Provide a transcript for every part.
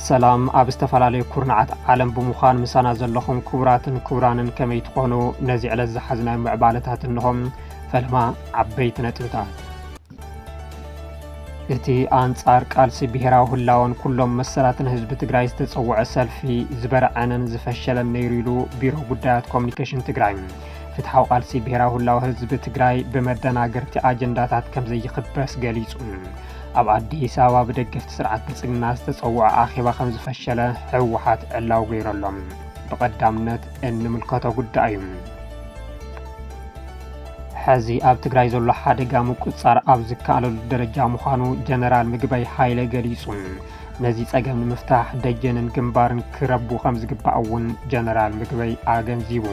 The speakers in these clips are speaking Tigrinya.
ሰላም ኣብ ዝተፈላለዩ ኩርናዓት ዓለም ብምዃን ምሳና ዘለኹም ክቡራትን ክቡራንን ከመይ ትኾኑ ነዚ ዕለት ዝሓዝናዮ ምዕባለታት እንሆም ፈለማ ዓበይቲ ነጥብታት እቲ ኣንጻር ቃልሲ ብሄራዊ ህላወን ኩሎም መሰላትን ህዝቢ ትግራይ ዝተጸውዐ ሰልፊ ዝበርዐነን ዝፈሸለን ነይሩ ኢሉ ቢሮ ጉዳያት ኮሚኒኬሽን ትግራይ። ፍትሓዊ ቃልሲ ብሄራዊ ህላወ ህዝቢ ትግራይ ብመደናገርቲ ኣጀንዳታት ከም ዘይኽበስ ገሊጹ። ኣብ ኣዲስ ኣበባ ብደገፍቲ ስርዓት ብልጽግና ዝተጸውዐ ኣኼባ ከም ዝፈሸለ ህወሓት ዕላዊ ገይረሎም ብቐዳምነት እንምልከቶ ጉዳይ እዩ። ሐዚ ኣብ ትግራይ ዘሎ ሓደጋ ምቁፅፃር ኣብ ዝከኣለሉ ደረጃ ምዃኑ ጀነራል ምግበይ ሃይለ ገሊፁ። ነዚ ፀገም ንምፍታሕ ደጀንን ግንባርን ክረቡ ከምዝግባእ እውን ጀነራል ምግበይ ኣገንዚቡ።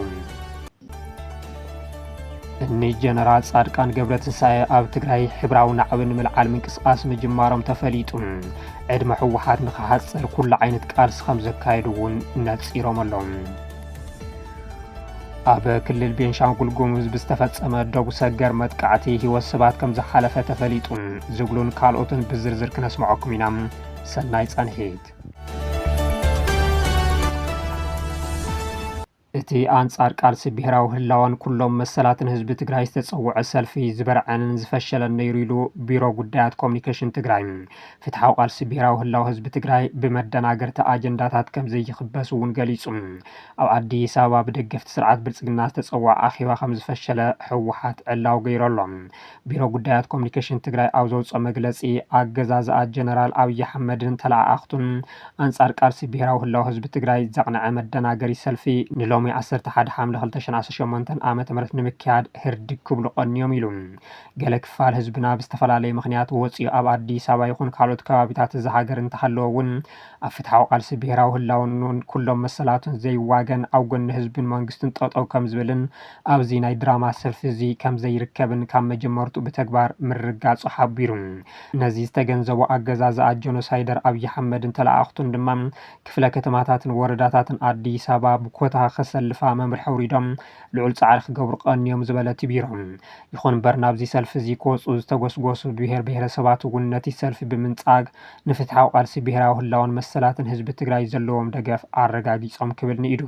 እኒ ጀነራል ፃድቃን ገብረትንሳኤ ኣብ ትግራይ ሕብራዊ ናዕቢ ንምልዓል ምንቅስቓስ ምጅማሮም ተፈሊጡ ዕድመ ህወሓት ንክሓፅር ኩሉ ዓይነት ቃልሲ ከም ዘካየዱ እውን ነፂሮም ኣለዉ። ኣብ ክልል ቤንሻንጉል ጉሙዝ ብዝተፈጸመ ዶብ ሰገር መጥቃዕቲ ህይወት ሰባት ከም ዝሓለፈ ተፈሊጡ ዝብሉን ካልኦትን ብዝርዝር ክነስምዐኩም ኢና። ሰናይ ጸንሒት። እቲ ኣንጻር ቃልሲ ብሄራዊ ህላዋን ኩሎም መሰላትን ህዝቢ ትግራይ ዝተጸውዐ ሰልፊ ዝበርዐንን ዝፈሸለን ነይሩ ኢሉ ቢሮ ጉዳያት ኮሚኒኬሽን ትግራይ። ፍትሓዊ ቃልሲ ብሄራዊ ህላው ህዝቢ ትግራይ ብመደናገርቲ ኣጀንዳታት ከም ዘይኽበስ እውን ገሊጹ። ኣብ ኣዲስ ኣበባ ብደገፍቲ ስርዓት ብልፅግና ዝተፀወዐ ኣኼባ ከምዝፈሸለ ህወሓት ዕላዊ ገይሩ ኣሎ። ቢሮ ጉዳያት ኮሙኒኬሽን ትግራይ ኣብ ዘውፅኦ መግለፂ ኣገዛዝኣ ጀነራል ኣብይ ኣሕመድን ተለኣኣኽቱን ኣንፃር ቃልሲ ብሄራዊ ህላወ ህዝቢ ትግራይ ዘቕነዐ መደናገሪ ሰልፊ ንሎሚ ዓሰርተ ሓደ ሓምለ ክልተ ሽሕን ዓሰርተ ሸሞንተን ዓ ም ንምክያድ ህርድግ ክብሉ ቀንዮም ኢሉ። ገለ ክፋል ህዝብና ብዝተፈላለየ ምኽንያት ወፂኡ ኣብ ኣዲስ ኣበባ ይኹን ካልኦት ከባቢታት እዛ ሃገር እንተሃለወ እውን ኣብ ፍትሓዊ ቃልሲ ብሄራዊ ህላወኑን ኩሎም መሰላቱን ዘይዋገን ኣብ ጎኒ ህዝብን መንግስቱን ጠጠው ከምዝብልን ኣብዚ ናይ ድራማ ሰልፊ እዚ ከምዘይርከብን ካብ መጀመርትኡ ብተግባር ምርግጋፁ ሓቢሩ። ነዚ ዝተገንዘቡ ኣገዛዝኣ ጆኖሳይደር ኣብይ ኣሕመድን ተለኣኣኽቱን ድማ ክፍለ ከተማታትን ወረዳታትን ኣዲስ ኣበባ ብኮታ ከሰልፋ መምርሒ ኣውሪዶም ልዑል ፃዕሪ ክገብሩ ቀንዮም ዝበለት'ዩ ቢሮ። ይኹን'ምበር ናብዚ ሰልፊ እዚ ክወፁ ዝተጎስጎሱ ብሄር ብሄረሰባት እውን ነቲ ሰልፊ ብምንፃግ ንፍትሓዊ ቃልሲ ብሄራዊ ህላወን መሰላትን ህዝቢ ትግራይ ዘለዎም ደገፍ ኣረጋጊፆም ክብል ንኢዱ።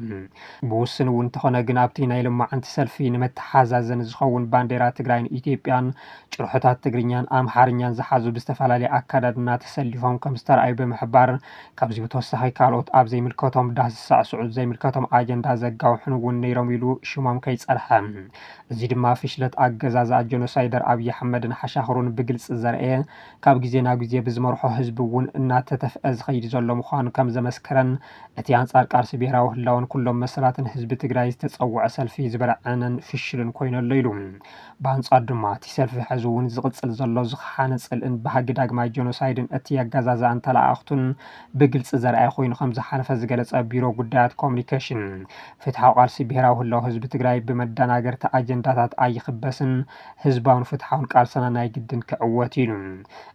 ብውሱን እውን እንተኾነ ግን ኣብቲ ናይ ሎማዕንቲ ሰልፊ ንመተሓዛዘኒ ዝኸውን ባንዴራ ትግራይን ኢትዮጵያን ጭርሖታት ትግርኛን ኣምሓርኛን ዝሓዙ ብዝተፈላለየ ኣከዳድና ተሰሊፎም ከምዝተርኣዩ ብምሕባር ካብዚ ብተወሳኺ ካልኦት ኣብ ዘይምልከቶም ዳስ ዝሳዕስዑን ዘይምልከቶም ኣጀንዳ ዘጋውሑን እውን ነይሮም ኢሉ ሽሞም ከይፀርሐ እዚ ድማ ፍሽለት ኣገዛዝኣ ጀኖሳይደር ኣብይ ኣሕመድን ሓሻኽሩን ብግልፂ ዘርኤ ካብ ግዜ ናብ ግዜ ብዝመርሖ ህዝቢ እውን እናተተፍዐ ዝኸይድ ዘሎ ምዃኑ ከም ዘመስከረን እቲ ኣንፃር ቃልሲ ብሄራዊ ህላወን ኩሎም መሰላትን ህዝቢ ትግራይ ዝተፀወዐ ሰልፊ ዝበርዐነን ፍሽልን ኮይኑ ኣሎ ኢሉ። ብኣንፃር ድማ እቲ ሰልፊ ሐዚ እውን ዝቕፅል ዘሎ ዝኸሓነ ፅልእን ባህጊ ዳግማይ ጀኖሳይድን እቲ ኣገዛዝኣን ተለኣኣኽቱን ብግልፂ ዘርኣየ ኮይኑ ከም ዝሓለፈ ዝገለፀ ቢሮ ጉዳያት ኮሙኒኬሽን ፍትሓዊ ቃልሲ ብሄራዊ ህላወ ህዝቢ ትግራይ ብመዳናገርቲ ኣጀንዳታት ኣይኽበስን ህዝባውን ፍትሓውን ቃልስና ናይ ግድን ክዕወት እዩ ኢሉ።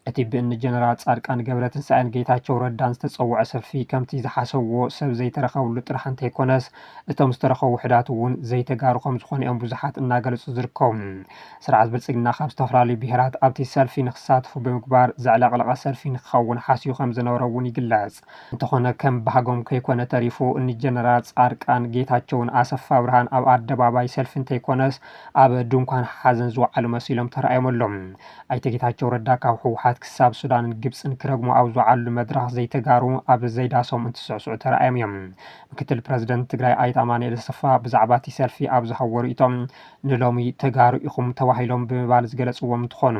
እቲ ብእኒ ጀነራል ፃድቃን ገብረትንሳኤን ጌታቸው ረዳን ዝተፀወዐ ሰልፊ ከምቲ ዝሓሰብዎ ሰብ ዘይተረኸብሉ ጥራሕ እንተይኮነስ እቶም ዝተረኸቡ ውሕዳት እውን ዘይተጋሩ ከምዝኾኑ እዮም ብዙሓት እናገለፁ ዝርከቡ። ስርዓት ብልፅግና ካብ ዝተፈላለዩ ብሄራት ኣብቲ ሰልፊ ንክሳተፉ ብምግባር ዘዕለቕለቐ ሰልፊ ንክኸውን ሓስዩ ከምዝነበረ እውን ይግለፅ። እንተኾነ ከም ባህጎም ከይኮነ ተሪፉ ንጀነራል ፃድቃን፣ ጌታቸውን ኣሰፋብርሃን ኣብ ኣደባባይ ሰልፊ እንተይኮነስ ኣብ ድንኳን ሓዘን ዝወዓሉ መሲሎም ተራእዮም ኣለው። ኣይተ ጌታቸው ረዳ ካብ ህወሓት ክሳብ ሱዳንን ግብፅን ክረግሙ ኣብ ዝወዓልሉ መድረኽ ዘይተጋሩ ኣብ ዘይዳሶም እንትስዕስዑ ተራእዮም እዮም። ምክትል ፕረዚደንት ትግራይ ኣይተ ኣማኑኤል ኣሰፋ ብዛዕባ እቲ ሰልፊ ኣብ ዝሃብዎ ሪኢቶ፣ ንሎሚ ተጋሩ ኢኹም ተባሂሎም ብምባል ዝገለፅዎም እንትኾኑ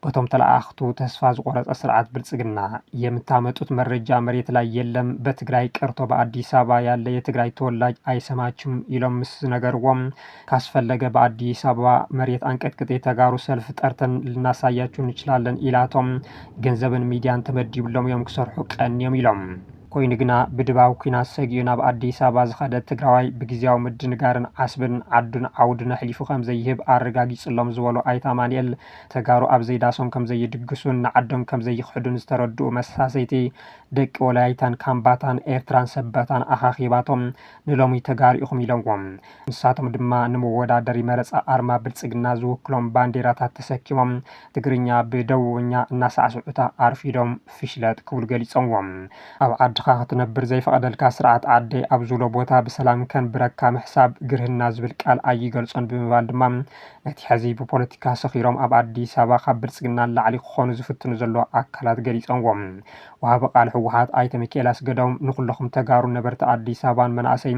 በቶም ተለኣኣኽቱ ተስፋ ዝቆረፀ ስርዓት ብልፅግና የምታመጡት መረጃ መሬት ላይ የለም በትግራይ ቀርቶ በኣዲስ ኣበባ ያለ የትግራይ ተወላጅ ኣይሰማችም ኢሎም ምስ ነገርዎም ካስፈለገ በኣዲስ ኣበባ መሬት ኣንቀጥቅጥ የተጋሩ ሰልፍ ጠርተን ልናሳያችሁ እንችላለን ኢላቶም ገንዘብን ሚዲያን ተመዲብሎም እዮም ክሰርሑ ቀንዮም ኢሎም። ኮይኑ ግና ብድባብ ኲናት ሰጊኡ ናብ ኣዲስ ኣበባ ዝኸደ ትግራዋይ ብግዝያዊ ምድንጋርን ዓስብን ዓዱን ዓውዱን ኣሕሊፉ ከምዘይህብ ኣረጋጊፅሎም ዝበሉ ኣይተ ኣማኒኤል፣ ተጋሩ ኣብ ዘይዳሶም ከምዘይድግሱን ንዓዶም ከምዘይኽሕዱን ዝተረድኡ መሳሰይቲ ደቂ ወላይታን ካምባታን ኤርትራን ሰበታን ኣኻኺባቶም ንሎሚ ተጋሩ ኢኹም ኢሎምዎም። ንሳቶም ድማ ንመወዳደሪ መረፃ ኣርማ ብልፅግና ዝውክሎም ባንዴራታት ተሰኪሞም ትግርኛ ብደቡብኛ እናሳዕስዑታ ኣርፊዶም ፍሽለት ክብሉ ገሊጸምዎ። ኣብ ዓድኻ ክትነብር ዘይፈቐደልካ ስርዓት ዓደይ ኣብ ዝብሎ ቦታ ብሰላም ከንብረካ ምሕሳብ ግርህና ዝብል ቃል ኣይገልጾን ብምባል ድማ ነቲ ሕዚ ብፖለቲካ ሰኺሮም ኣብ ኣዲስ ኣበባ ካብ ብልጽግና ንላዕሊ ክኾኑ ዝፍትኑ ዘለዉ ኣካላት ገሊጸምዎ። ወሃቢ ቃል ህወሓት ኣይተ ሚኪኤል ኣስገዶም ንኹለኹም ተጋሩን ነበርቲ ኣዲስ ኣበባን መናእሰይ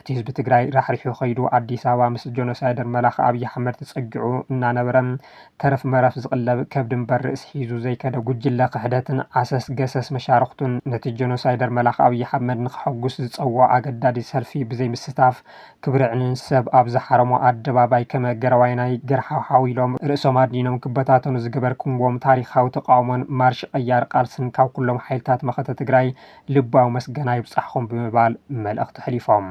እቲ ህዝቢ ትግራይ ራሕሪሑ ከይዱ ኣዲስ ኣበባ ምስ ጆኖሳይደር መላኺ ኣብይ ኣሕመድ ተጸጊዑ እናነበረ ተረፍ መረፍ ዝቕለብ ከብዲ እምበር ርእሲ ሒዙ ዘይከደ ጉጅለ ክሕደትን ዓሰስ ገሰስ መሻርኽቱን ነቲ ጀኖሳይደር መላኺ ኣብይ ሓመድ ንኸሐጉስ ዝፀውዖ ኣገዳዲ ሰልፊ ብዘይምስታፍ ክብሪ ዕንን ሰብ ኣብ ዝሓረሞ ኣደባባይ ከመ ገረዋይናይ ገርሓውሓው ኢሎም ርእሶም ኣድኒኖም ክበታተኑ ዝገበርክምዎም ታሪኻዊ ተቓውሞን ማርሽ ቐያር ቓልስን ካብ ኩሎም ሓይልታት መኸተ ትግራይ ልባዊ መስገና ይብፃሕኹም ብምባል መልእኽቲ ኣሕሊፎም።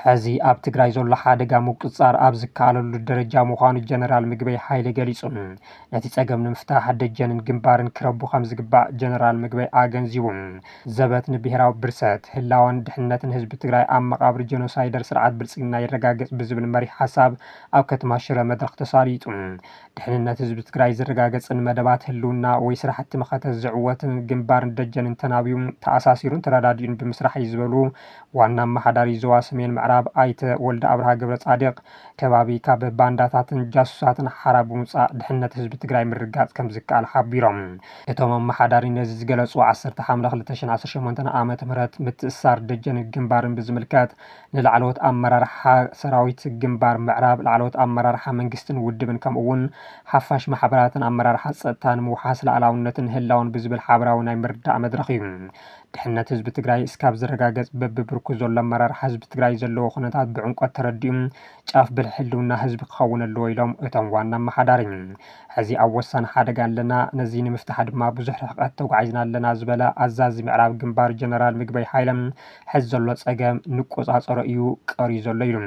ሐዚ ኣብ ትግራይ ዘሎ ሓደጋ ምቁፅፃር ኣብ ዝከኣለሉ ደረጃ ምዃኑ ጀነራል ምግበይ ሓይለ ገሊፁ። ነቲ ፀገም ንምፍታሕ ደጀንን ግንባርን ክረቡ ከምዝግባእ ጀነራል ምግበይ ኣገንዚቡ። ዘበት ንብሄራዊ ብርሰት፣ ህላወን ድሕንነትን ህዝቢ ትግራይ ኣብ መቓብር ጀኖሳይደር ስርዓት ብልፅግና ይረጋገፅ ብዝብል መሪሕ ሓሳብ ኣብ ከተማ ሽረ መድረኽ ተሳሊጡ። ድሕንነት ህዝቢ ትግራይ ዝረጋገፅን መደባት ህልውና ወይ ስራሕቲ መኸተ ዝዕወት ግንባርን ደጀንን ተናብዩ፣ ተኣሳሲሩን ተረዳዲኡን ብምስራሕ እዩ ዝበሉ ዋና ኣመሓዳሪ ዞባ ሰሜን ምዕራብ ኣይተ ወልደኣብርሃ ገብረፃድቕ፣ ከባቢ ካብ ባንዳታትን ጃሱሳትን ሓራ ብምውፃእ ድሕንነት ህዝቢ ትግራይ ምርግጋፅ ከምዝከኣል ሓቢሮም። እቶም ኣመሓዳሪ ነዚ ዝገለፁ ዓሰርተ ሓምለ ክልተ ሽሕን ዓሰርተ ሸሞንተን ዓመተ ምህረት ምትእስሳር ደጀንን ግንባርን ብዝምልከት ንላዕለዎት ኣመራርሓ ሰራዊት ግንባር ምዕራብ፣ ላዕለዎት ኣመራርሓ መንግስትን ውድብን ከምኡ'ውን ሓፋሽ ማሕበራትን ኣመራርሓ ፀጥታ ንምውሓስ ላእላውነትን ህላወን ብዝብል ሓበራዊ ናይ ምርዳእ መድረኽ ዩ። ድሕነት ህዝቢ ትግራይ እስካብ ዝረጋገፅ በቢ ብርኩ ዘሎ ኣመራርሓ ህዝቢ ትግራይ ዘለዎ ኩነታት ብዕምቆት ተረዲኡ ጫፍ ብልሒ ህልውና ህዝቢ ክኸውን ኣለዎ ኢሎም እቶም ዋና ኣመሓዳሪ። ሕዚ ኣብ ወሳኒ ሓደጋ ኣለና፣ ነዚ ንምፍታሕ ድማ ብዙሕ ርሕቐት ተጓዒዝና ኣለና ዝበለ ኣዛዚ ምዕራብ ግንባር ጀነራል ምግበይ ሃይለ፣ ሕዚ ዘሎ ፀገም ንቆፃፀሮ እዩ ቀርዩ ዘሎ ኢሉ።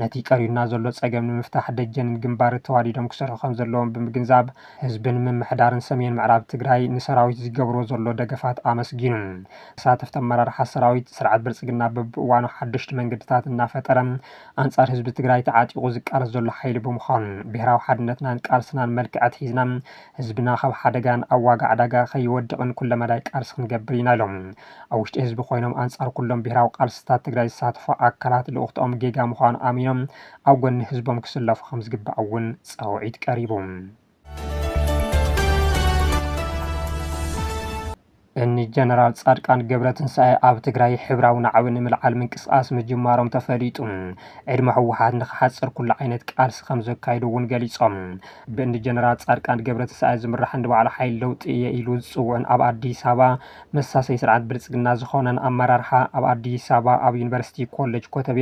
ነቲ ቀርዩና ዘሎ ፀገም ንምፍታሕ ደጀንን ግንባር ተዋዲዶም ክሰርሑ ከምዘለዎም ብምግንዛብ ህዝብን ምምሕዳርን ሰሜን ምዕራብ ትግራይ ንሰራዊት ዝገብርዎ ዘሎ ደገፋት ኣመስጊኑ። ተሳተፍቲ ኣመራርሓ ሰራዊት፣ ስርዓት ብልፅግና በቢእዋኑ ሓደሽቲ መንገድታት እናፈጠረ ኣንፃር ህዝቢ ትግራይ ተዓጢቑ ዝቃለስ ዘሎ ሓይሊ ብምዃኑ ብሄራዊ ሓድነትናን ቃልስናን መልክዕ ኣትሒዝና ህዝብና ካብ ሓደጋን ኣብ ዋጋ ዕዳጋ ከይወድቕን ኩለመዳይ ቃልሲ ክንገብር ኢና ኢሎም። ኣብ ውሽጢ ህዝቢ ኮይኖም ኣንፃር ኩሎም ብሄራዊ ቃልስታት ትግራይ ዝሳተፉ ኣካላት ልኡኽትኦም ጌጋ ምዃኑ ኣሚኖም ኣብ ጎኒ ህዝቦም ክስለፉ ከምዝግባእ እውን ፃውዒት ቀሪቡ። እኒ ጀነራል ፃድቃን ገብረትንሳኤ ኣብ ትግራይ ሕብራዊ ናዕቢ ንምልዓል ምንቅስቓስ ምጅማሮም ተፈሊጡ። ዕድመ ህወሓት ንክሓፅር ኩሉ ዓይነት ቃልሲ ከምዘካይዱ እውን ገሊፆም። ብእኒ ጀነራል ፃድቃን ገብረትንሳኤ ዝምራሕን ንባዕሉ ሓይሊ ለውጢ እየ ኢሉ ዝፅውዕን ኣብ ኣዲስ ኣበባ መሳሰዪ ስርዓት ብልፅግና ዝኾነን ኣመራርሓ ኣብ ኣዲስ ኣበባ ኣብ ዩኒቨርሲቲ ኮሌጅ ኮተቤ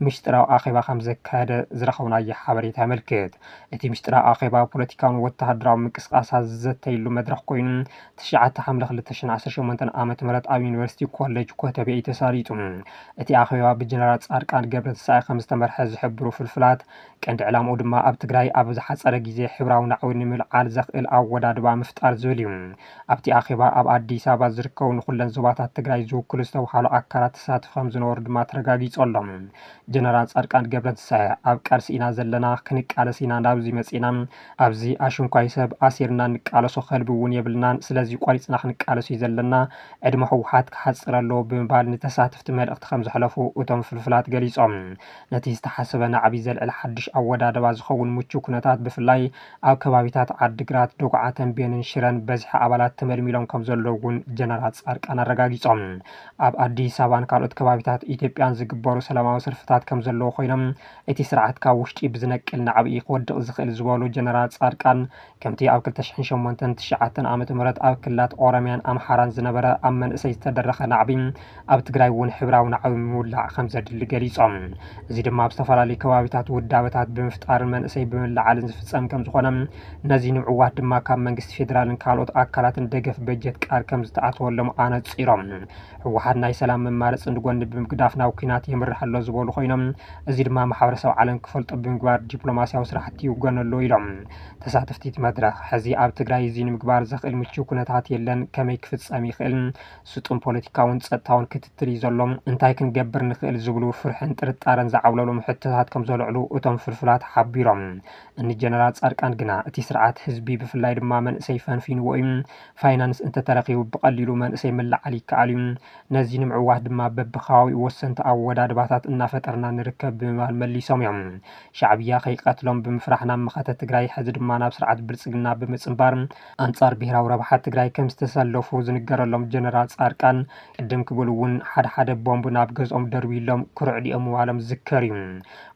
ምስጢራዊ ኣኼባ ከምዘካየደ ዝረኸብናዮ ሓበሬታ የመልክት። እቲ ምስጢራዊ ኣኼባ ፖለቲካውን ወተሃደራውን ምንቅስቓሳት ዝዘተይሉ መድረኽ ኮይኑ ትሽዓተ ሓምለ ክልተ ሽሕን ዓሰርተ ሸሞንተን ዓመተ ምህረት ኣብ ዩኒቨርሲቲ ኮሌጅ ኮተቤ እዩ ተሳሊጡ። እቲ ኣኼባ ብጀነራል ፃድቃን ገብረትንሳኤ ከምዝተመርሐ ዝሕብሩ ፍልፍላት ቀንዲ ዕላምኡ ድማ ኣብ ትግራይ ኣብ ዝሓፀረ ግዜ ሕብራዊ ናዕቢ ንምልዓል ዘኽእል ኣወዳድባ ምፍጣር ዝብል እዩ። ኣብቲ ኣኼባ ኣብ ኣዲስ ኣበባ ዝርከቡ ንኹለን ዞባታት ትግራይ ዝውክሉ ዝተብሃሉ ኣካላት ተሳተፍቲ ከምዝነበሩ ድማ ተረጋጊፁ ኣሎ። ጀነራል ፃድቃን ገብረትንሳኤ ኣብ ቃልሲ ኢና ዘለና፣ ክንቃለስ ኢና ናብዚ መፂእና፣ ኣብዚ ኣሽንኳይ ሰብ ኣሲርና ንቃለሶ ከልቢ እውን የብልናን፣ ስለዚ ቆሪፅና ክንቃለስ እዩ ዘለና፣ ዕድመ ህወሓት ክሓፅር ኣለዎ ብምባል ንተሳተፍቲ መልእኽቲ ከምዘሕለፉ እቶም ፍልፍላት ገሊፆም። ነቲ ዝተሓሰበ ናዕቢ ዘልዕል ሓዱሽ ኣወዳድባ ዝኸውን ምቹው ኩነታት ብፍላይ ኣብ ከባቢታት ዓዲግራት፣ ዶግዓ፣ ተምቤንን ሽረን በዝሒ ኣባላት ተመልሚሎም ከምዘለዉ እውን ጀነራል ፃድቃን ኣረጋጊፆም። ኣብ ኣዲስ ኣበባን ካልኦት ከባቢታት ኢትዮጵያን ዝግበሩ ሰላማዊ ሰልፍታት ከምዘለዉ ኮይኖም እቲ ስርዓት ካብ ውሽጢ ብዝነቅል ናዕቢ እዩ ክወድቕ ዝኽእል ዝበሉ ጀነራል ፃድቃን ከምቲ ኣብ ክልተ ሽሕን ሸሞንተን ትሽዓተን ዓ.ም ኣብ ክልላት ኦሮሚያን ኣምሓራን ዝነበረ ኣብ መንእሰይ ዝተደረኸ ናዕቢ ኣብ ትግራይ እውን ሕብራዊ ናዕቢ ምውላዕ ከምዘድሊ ገሊፆም። እዚ ድማ ኣብ ዝተፈላለዩ ከባቢታት ውዳበታት ብምፍጣርን መንእሰይ ብምልዓልን ዝፍፀም ከምዝኾነ ነዚ ንምዕዋት ድማ ካብ መንግስቲ ፌዴራልን ካልኦት ኣካላትን ደገፍ በጀት ቃል ከምዝተኣተወሎም ኣነፂሮም። ህወሓት ናይ ሰላም መማረፂ ንጎኒ ብምግዳፍ ናብ ኲናት የምርሕ ኣሎ ዝበሉ ኮይኖም እዚ ድማ ማሕበረሰብ ዓለም ክፈልጦ ብምግባር ዲፕሎማሲያዊ ስራሕቲ ይውገን ኣሎ ኢሎም። ተሳተፍቲ እቲ መድረኽ፣ ሕዚ ኣብ ትግራይ እዚ ንምግባር ዘኽእል ምችው ኩነታት የለን፣ ከመይ ክፍፀም ይኽእል? ስጡም ፖለቲካውን ጸጥታውን ክትትል እዩ ዘሎ፣ እንታይ ክንገብር ንኽእል ዝብሉ ፍርሕን ጥርጣረን ዝዓብለሎም ሕቶታት ከምዘልዕሉ እቶም ፍልፍላት ሓቢሮም። እኒ ጀነራል ጻድቃን ግና እቲ ስርዓት ህዝቢ ብፍላይ ድማ መንእሰይ ፈንፊንዎ እዩ፣ ፋይናንስ እንተተረኺቡ ብቐሊሉ መንእሰይ ምልዓል ይከኣል እዩ፣ ነዚ ንምዕዋት ድማ በቢከባቢኡ ወሰንቲ ኣወዳድባታት እናፈጠርና ንርከብ ብምባል መሊሶም እዮም። ሻዕብያ ከይቀትሎም ብምፍራሕ ናብ መኸተ ትግራይ ሕዚ ድማ ናብ ስርዓት ብልጽግና ብምጽንባር ኣንፃር ብሄራዊ ረብሓ ትግራይ ከምዝተሰለፉ ዝንገረሎም ጀነራል ፃድቃን ቅድም ክብሉ እውን ሓደ ሓደ ቦምብ ናብ ገዝኦም ደርብዩሎም ክርዕድኦም ምባሎም ዝዝከር እዩ።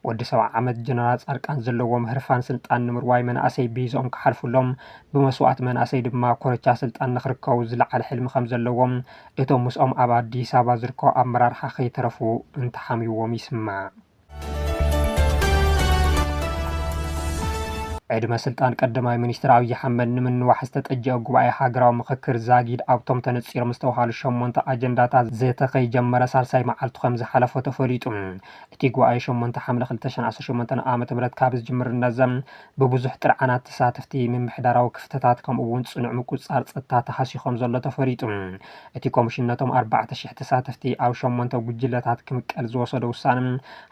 ወዲ ሰብዓ ዓመት ጀነራል ፃድቃን ዘለዎም ህርፋን ስልጣን ንምርዋይ መናእሰይ ብይዞኦም ክሓልፉሎም ብመስዋእቲ መናእሰይ ድማ ኮረቻ ስልጣን ንክርከቡ ዝለዓለ ሕልሚ ከምዘለዎም እቶም ምስኦም ኣብ ኣዲስ ኣበባ ዝርከቡ ኣመራርሓ ከይተረፉ እንትሓምይዎም ይስማዕ። ዕድመ ስልጣን ቀዳማይ ሚኒስትር ኣብዪ ኣሕመድ ንምንዋሕ ዝተጠጀኣ ጉባኤ ሃገራዊ ምኽክር ዛጊድ ኣብቶም ተነፂሮም ዝተውሃሉ ሸሞንተ ኣጀንዳታት ዘተ ከይጀመረ ሳልሳይ መዓልቱ ከምዝሓለፎ ተፈሊጡ። እቲ ጉባኤ ሸሞንተ ሓምለ ክልተ ሸሕን ዓሰርተ ሸሞንተን ዓ.ም ካብ ዝጅምር እነዘም ብብዙሕ ጥርዓናት ተሳተፍቲ ምምሕዳራዊ ክፍተታት ከምኡ እውን ፅኑዕ ምቁፅፃር ፀጥታ ተሃስዩ ከምዘሎ ተፈሊጡ። እቲ ኮሚሽን ነቶም ኣርባዕተ ሽሕ ተሳተፍቲ ኣብ ሸሞንተ ጉጅለታት ክምቀል ዝወሰዶ ውሳነ፣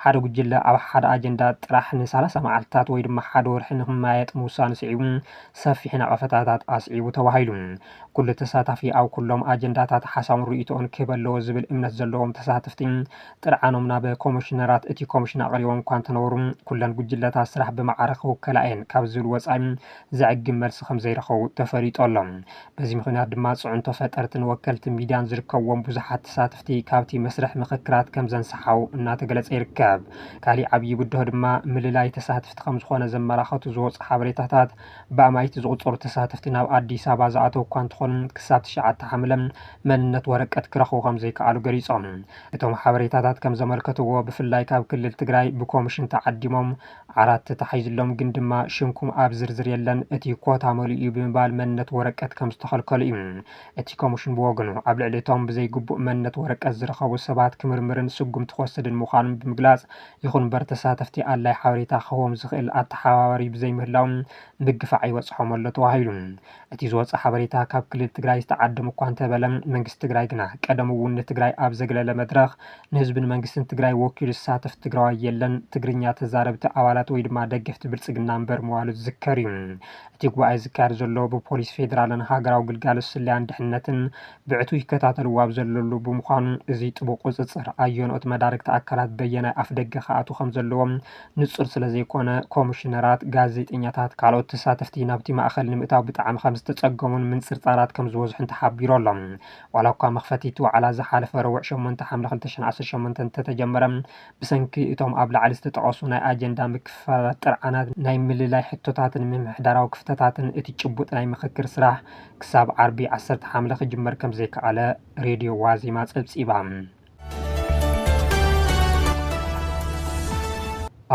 ሓደ ጉጅለ ኣብ ሓደ ኣጀንዳ ጥራሕ ንሳላሳ መዓልቲታት ወይ ድማ ሓደ ወርሒ ንክመያየጥ ምውሳኑ ስዒቡ ሰፊሕ ነቐፈታታት ኣስዒቡ ተባሂሉ። ኩሉ ተሳታፊ ኣብ ኩሎም ኣጀንዳታት ሓሳቡን ርእይቶኡን ክህብ ኣለዎ ዝብል እምነት ዘለዎም ተሳተፍቲ ጥርዓኖም ናብ ኮሚሽነራት እቲ ኮሚሽን ኣቕሪቦም እኳ እንተነበሩ ኩለን ጉጅለታት ስራሕ ብማዕረ ክውከላ እየን ካብ ዝብል ወፃኢ ዘዕግብ መልሲ ከምዘይረኸቡ ተፈሊጡ ኣሎ። በዚ ምኽንያት ድማ ፅዕንቶ ፈጠርትን ወከልቲ ሚድያን ዝርከብዎም ብዙሓት ተሳተፍቲ ካብቲ መስርሕ ምኽክራት ከምዘንሰሓው እናተገለፀ ይርከብ። ካሊእ ዓብዪ ብድሆ ድማ ምልላይ ተሳትፍቲ ከምዝኾነ ዘመላኸቱ ዝወፁ ሓበሬታታት ብኣማኢቲ ዝቑፀሩ ተሳተፍቲ ናብ ኣዲስ ኣበባ ዝኣተው እኳ እንተኾኑ ክሳብ ትሽዓተ ሓምለ መንነት ወረቀት ክረኽቡ ከምዘይከኣሉ ገሊፆም። እቶም ሓበሬታታት ከምዘመልከትዎ ብፍላይ ካብ ክልል ትግራይ ብኮምሽን ተዓዲሞም ዓራት ተታሒዙሎም ግን ድማ ሽምኩም ኣብ ዝርዝር የለን እቲ ኮታ መሊኡ እዩ ብምባል መንነት ወረቀት ከም ዝተኸልከሉ እዩ። እቲ ኮምሽን ብወገኑ ኣብ ልዕሊ እቶም ብዘይግቡእ መንነት ወረቀት ዝረኸቡ ሰባት ክምርምርን ስጉምቲ ክወስድን ምዃኑን ብምግላፅ ይኹን እምበር ተሳተፍቲ ኣድላይ ሓበሬታ ክህቦም ዝኽእል ኣተሓባባሪ ብዘይምህላዉ ምግፋዕ ይበፅሖም ኣሎ ተባሂሉ። እቲ ዝወፀ ሓበሬታ ካብ ክልል ትግራይ ዝተዓደሙ እኳ እንተበለ መንግስቲ ትግራይ ግና ቀደሙ እውን ንትግራይ ኣብ ዘግለለ መድረኽ ንህዝብን መንግስትን ትግራይ ወኪሉ ዝሳተፍ ትግራዋይ የለን ትግርኛ ተዛረብቲ ኣባላት ወይ ድማ ደገፍቲ ብልፅግና እምበር ምባሉ ዝዝከር እዩ። እቲ ጉባኤ ዝካየድ ዘሎ ብፖሊስ ፌዴራልን ሃገራዊ ግልጋሎት ስለያን ድሕንነትን ብዕቱብ ይከታተልዎ ኣብ ዘለሉ ብምዃኑ እዚ ጥቡቕ ቁፅፅር ኣየንኦት መዳርግቲ ኣካላት በየናይ ኣፍደገ ክኣትው ከምዘለዎም ንጹር ስለ ዘይኮነ፣ ኮምሽነራት፣ ጋዜጠኛታት፣ ካልኦት ተሳተፍቲ ናብቲ ማእከል ንምእታው ብጣዕሚ ከም ዝተጸገሙን ምንጽርጻራት ከም ዝበዝሑን ተሓቢሩ ኣሎ። ዋላኳ መኽፈቲ'ቲ ዋዕላ ዝሓለፈ ረቡዕ ሸሞንተ ሓምለ ክልተ ሽሕን ዓሰርተ ሸሞንተን እንተተጀመረ፣ ብሰንኪ እቶም ኣብ ላዕሊ ዝተጠቐሱ ናይ ኣጀንዳ ምክፍፋላት፣ ጥርዓናት፣ ናይ ምልላይ ሕቶታትን ምምሕዳራዊ ክፍተታትን እቲ ጭቡጥ ናይ ምኽክር ስራሕ ክሳብ ዓርቢ ዓሰርተ ሓምለ ክጅመር ከም ዘይከኣለ ሬድዮ ዋዜማ ጸብጺባ።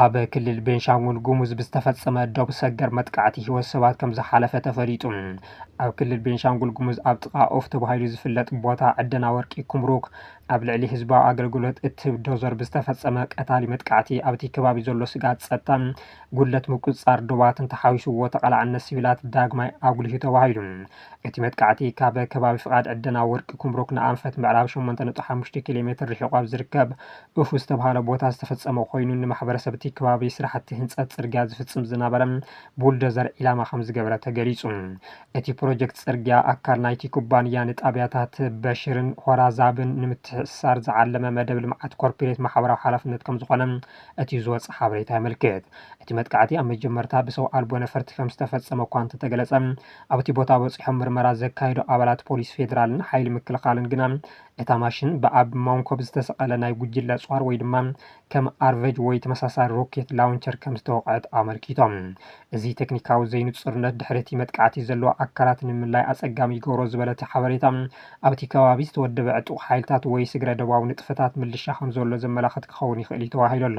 ኣብ ክልል ቤንሻንጉል ጉሙዝ ብዝተፈጸመ ዶብ ሰገር መጥቃዕቲ ህይወት ሰባት ከም ዝሓለፈ ተፈሊጡ። ኣብ ክልል ቤንሻንጉል ጉሙዝ ኣብ ጥቓ ኦፍ ተባሂሉ ዝፍለጥ ቦታ ዕደና ወርቂ ኩምሩክ ኣብ ልዕሊ ህዝባዊ ኣገልግሎት እትህብ ዶዘር ብዝተፈጸመ ቀታሊ መጥቃዕቲ ኣብቲ ከባቢ ዘሎ ስጋት ጸጥታን ጉድለት ምቁጽጻር ዶባትን ተሓዊስዎ ተቐላዕነት ሲቪላት ዳግማይ ኣጉሊሁ ተባሂሉ። እቲ መጥቃዕቲ ካብ ከባቢ ፍቓድ ዕደና ወርቂ ኩምሩክ ንኣንፈት ምዕራብ ሸሞንተ ነጥቢ ሓሙሽተ ኪሎ ሜትር ርሒቑ ኣብ ዝርከብ ኡፍ ዝተብሃለ ቦታ ዝተፈጸመ ኮይኑ ንማሕበረሰብ እቲ ከባቢ ስራሕቲ ህንፀት ፅርግያ ዝፍፅም ዝነበረ ቡልደዘር ዒላማ ከምዝገበረ ተገሊፁ። እቲ ፕሮጀክት ፅርግያ ኣካል ናይቲ ኩባንያ ንጣብያታት በሽርን ሆራዛብን ንምትሕስሳር ዝዓለመ መደብ ልምዓት ኮርፒሬት ማሕበራዊ ሓላፍነት ከምዝኾነ እቲ ዝወፀ ሓበሬታ የመልክት። እቲ መጥቃዕቲ ኣብ መጀመርታ ብሰው ኣልቦ ነፈርቲ ከምዝተፈፀመ እኳ እንተተገለፀ ኣብቲ ቦታ በፂሖም ምርመራ ዘካየዱ ኣባላት ፖሊስ ፌዴራልን ሓይሊ ምክልኻልን ግና እታ ማሽን ብኣብ ሞንኮብ ዝተሰቐለ ናይ ጉጅለ ጿር ወይ ድማ ከም ኣርቨጅ ወይ ተመሳሳሊ ሮኬት ላውንቸር ከም ዝተወቕዐት ኣመልኪቶም። እዚ ቴክኒካዊ ዘይንፁርነት ድሕሪ እቲ መጥቃዕቲ ዘለዎ ኣካላት ንምልላይ ኣፀጋሚ ይገብሮ ዝበለ እቲ ሓበሬታ፣ ኣብቲ ከባቢ ዝተወደበ ዕጡቕ ሓይልታት ወይ ስግረ-ዶባዊ ንጥፈታት ምልሻ ከም ዘሎ ዘመላኽት ክኸውን ይኽእል እዩ ተባሂሉ ኣሎ።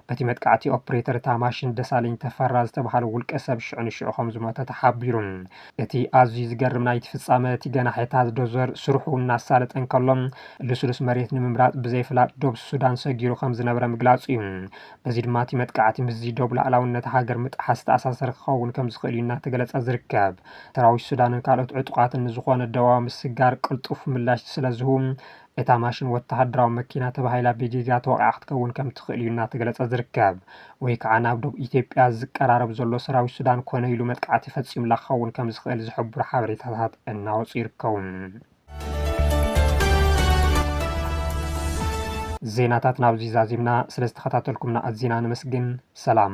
በቲ መጥቃዕቲ ኦፕሬተር እታ ማሽን ደሳለኝ ተፈራ ዝተብሃለ ውልቀ ሰብ ሽዑ ንሽዑ ከም ዝሞተ ተሓቢሩ። እቲ ኣዝዩ ዝገርም ናይቲ ፍጻመ እቲ ገናሒታት ዶዘር ስርሑ እናሳለጠ እንከሎ ልስሉስ መሬት ንምምራጽ ብዘይ ፍላጥ ዶብ ሱዳን ሰጊሩ ከም ዝነበረ ምግላጹ እዩ። በዚ ድማ እቲ መጥቃዕቲ ምስዚ ዶብ ላእላውነት ሃገር ምጥሓስ ዝተኣሳሰረ ክኸውን ከም ዝኽእል እዩ እናተገለጸ ዝርከብ። ሰራዊት ሱዳንን ካልኦት ዕጡቓትን ንዝኾነ ደባዊ ምስግጋር ቅልጡፍ ምላሽ ስለ ዝህቡ እታ ማሽን ወተሃደራዊ መኪና ተባሂላ ብጌጋ ተወቒዓ ክትከውን ከም ትኽእል እዩ እናተገለፀ ዝርከብ። ወይ ከዓ ናብ ዶብ ኢትዮጵያ ዝቀራረብ ዘሎ ሰራዊት ሱዳን ኮነ ኢሉ መጥቃዕቲ ፈፂሙላ ክኸውን ከም ዝኽእል ዝሕብሩ ሓበሬታታት እናወፁ ይርከቡ። ዜናታትና ኣብዚ ዛዚምና፣ ስለዝተኸታተልኩምና ኣዚና ነመስግን። ሰላም።